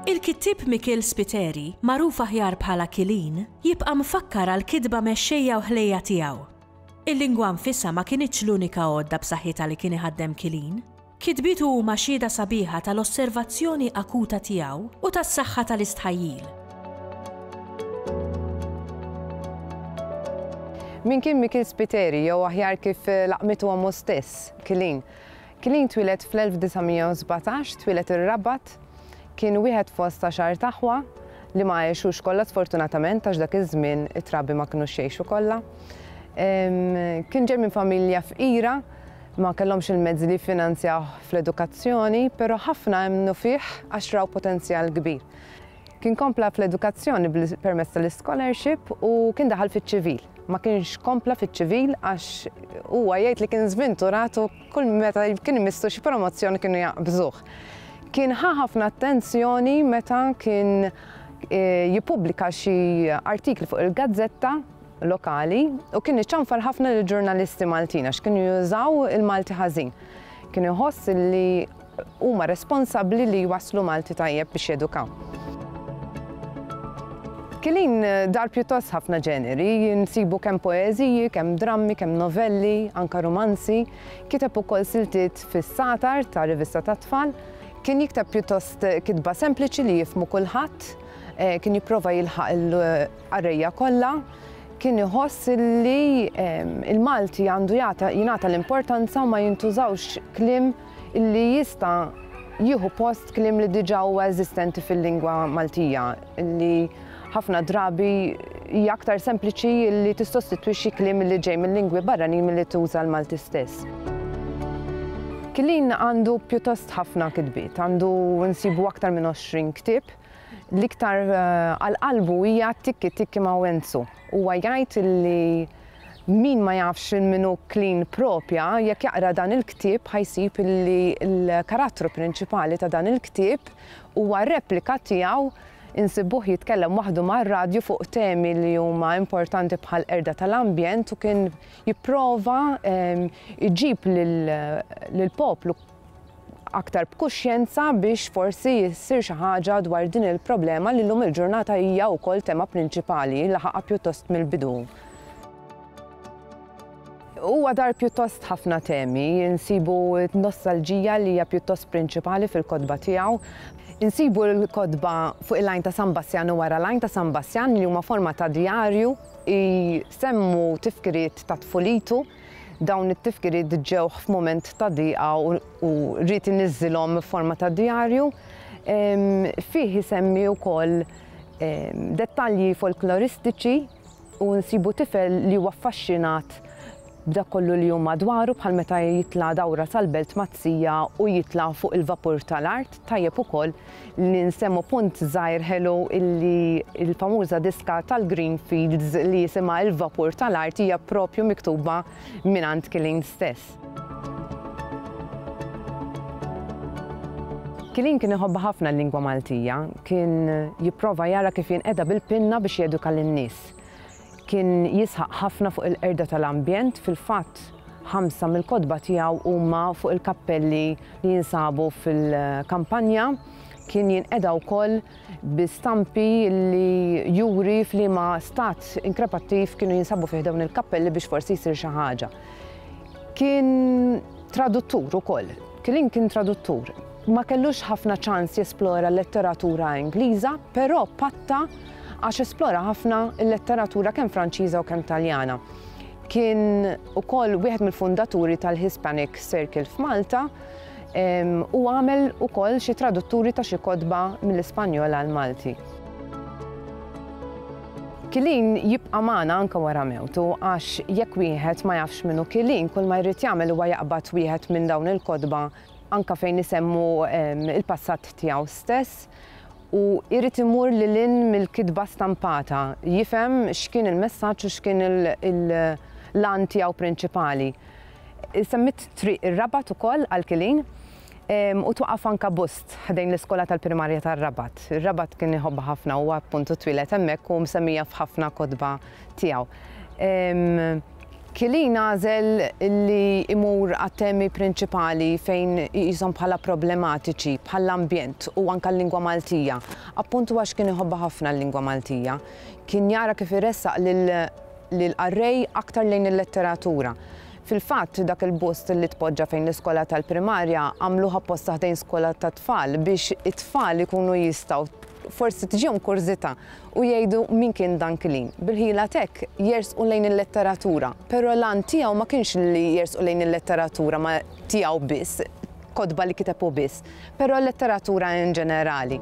Il-kittieb Mikiel Spiteri, magħruf aħjar bħala Kilin, jibqa' mfakkar għall-kitba mexxejja u ħlejja tiegħu. Il-lingwa nfisha ma kinitx l-unika għodda b'saħħitha li kien iħaddem Kilin. Kitbietu huma xhieda sabiħa tal-osservazzjoni akuta tiegħu u tas-saħħa tal-istħajjil. Min kien Mikiel Spiteri, jew aħjar kif laqmitu ommu stess, Kilin? Kilin twieled fl-1917, twieled ir-Rabat, kien wieħed fost għaxart taħwa li ma għexux kollha sfortunatament għax dak iż-żmien it-trabi ma kinux jgħixu kollha. Kien ġej minn familja fqira Ma kellhomx il-mezzi li jiffinanzjawh fl-edukazzjoni, però ħafna emmnu fih għax raw potenzjal kbir. Kien kompla fl-edukazzjoni permezz tal-iskolarxip u kien daħal fiċ-ċivil. Ma kienx kompla fiċ-ċivil għax huwa jgħid li kien żvinturat u kull meta kien imissu xi promozzjoni kienu jaqbżuh. Kien ħa ħafna attenzjoni meta kien eh, jippubblika xi artikli fuq il-gazzetta lokali u kien iċanfar ħafna lil ġurnalisti Maltin għax kienu jużaw il-Malti ħażin. Kien iħoss li huma responsabbli li jwaslu Malti tajjeb biex jedukaw. Kilin eh, dar pjuttost ħafna ġeneri, nsibu kemm poeżiji, kemm drammi, kemm novelli, anka romanzi, kiteb ukoll siltiet fis-satar ta' rivista ta' tfal, kien jikteb pjuttost eh, kitba sempliċi li jifmu kulħadd, eh, kien jipprova jilħaq qarrejja kollha, kien iħoss li l-Malti għandu jingħata l-importanza u ma jintużawx kliem li jista' jieħu post kliem li diġà huwa eżistenti fil-lingwa Maltija, li ħafna drabi hija aktar sempliċi li tissostitwixxi kliem li ġej mil-lingwi barranin milli tuża l-Malti stess. Killeen għandu pjuttost ħafna kitbiet, għandu nsibu aktar minn 20 ktieb, L-iktar għal qalbu hija Tikki Tikki ma' Wenzu. Huwa jgħid li min ma jafx lil min hu Clean Propja, jekk jaqra dan il-ktieb ħa jsib li l-karattru prinċipali ta' dan il-ktieb huwa replika tiegħu insibbuh jitkellem waħdu mar-radju fuq temi li huma importanti bħall-qerda tal-ambjent u kien jipprova jġib lill-poplu aktar b'kuxjenza biex forsi ssir xi ħaġa dwar din il-problema li llum il-ġurnata hija wkoll tema prinċipali, laħaqha pjuttost mill-bidu. Huwa dar pjuttost ħafna temi, insibu t-nostalġija li hija pjuttost prinċipali fil-kotba tiegħu. Insibu l-kotba fuq il-lajn ta' San Bassjan u wara l-lajn ta' San Bassjan li huma forma ta' djarju, jsemmu tifkiriet ta' tfulitu, Dawn it-tifkiriet ġewh f'mument ta' diqa u ried iniżżilhom f'forma ta' djarju. Fih isemmi wkoll dettalji folkloristiċi u nsibu tifel li huwa affaxxinat b'dak kollu li hu madwaru bħal meta jitla' dawra sal-belt mat-tija u jitla' fuq il-vapur tal-art, tajjeb ukoll li nsemmu punt żgħir ħelu illi l-famuża diska tal-Greenfields li jisimha Il-Vapur tal-Art hija propju miktuba mingħand Killeen stess. Killeen kien iħobb ħafna l-lingwa Maltija, kien jipprova jara kif jinqeda bil-pinna biex jeduka lin-nies. Kien jisħaq ħafna fuq il-qerda tal-ambjent, fil-fatt ħamsa mill-kotba tiegħu huma fuq il-kappelli li jinsabu fil-kampanja. Kien jinqeda wkoll bi stampi li juri f'liema stat inkrepattiv kienu jinsabu fih dawn il-kappelli biex forsi jsir xi ħaġa. Kien traduttur ukoll, Killeen kien traduttur. Ma kellux ħafna ċans jesplora l-letteratura Ingliża, però patta għax esplora ħafna l-letteratura kemm Franċiża u kemm Taljana. Kien ukoll wieħed mill-fundaturi tal-Hispanic Circle f'Malta u għamel ukoll xi tradutturi ta' xi kodba mill-Ispanjol għal Malti. Kilin jibqa' magħna anke wara mewtu għax jekk wieħed ma jafx minnu Kilin kull ma jrid jagħmel huwa jaqbad wieħed minn dawn il-kotba anke fejn isemmu il-passat tiegħu stess u jrid imur lil hinn mill-kitba stampata, jifhem x'kien il-messaġġ u x'kien l-għan tiegħu prinċipali. Semmit Triq ir-Rabat ukoll għal Kilin u twaqaf anke bust ħdejn l-iskola tal-primarja tar-Rabat. Ir-Rabat kien iħobbha ħafna, huwa appuntu twieled hemmhekk u msemmija f'ħafna kotba tiegħu. Killeen għażel li jmur għat-temi prinċipali fejn iqishom bħala problematiċi, bħall-ambjent u anke l-lingwa Maltija, appuntu għax kien iħobbha ħafna l-lingwa Maltija. Kien jara kif iressaq lill-qarrej aktar lejn il-letteratura. Fil-fatt, dak il-bust li tpoġġa fejn l-iskola tal-primarja għamluh apposta ħdejn skola tat-tfal biex it-tfal ikunu jistgħu forsi tiġihom kurżità u jgħidu min kien Dan Killeen. Bil-ħila t'hekk jersqu lejn il-letteratura, però l-għan tiegħu ma kienx li jersqu lejn il-letteratura ma tiegħu biss, kotba li kiteb hu biss, però l-letteratura in ġenerali.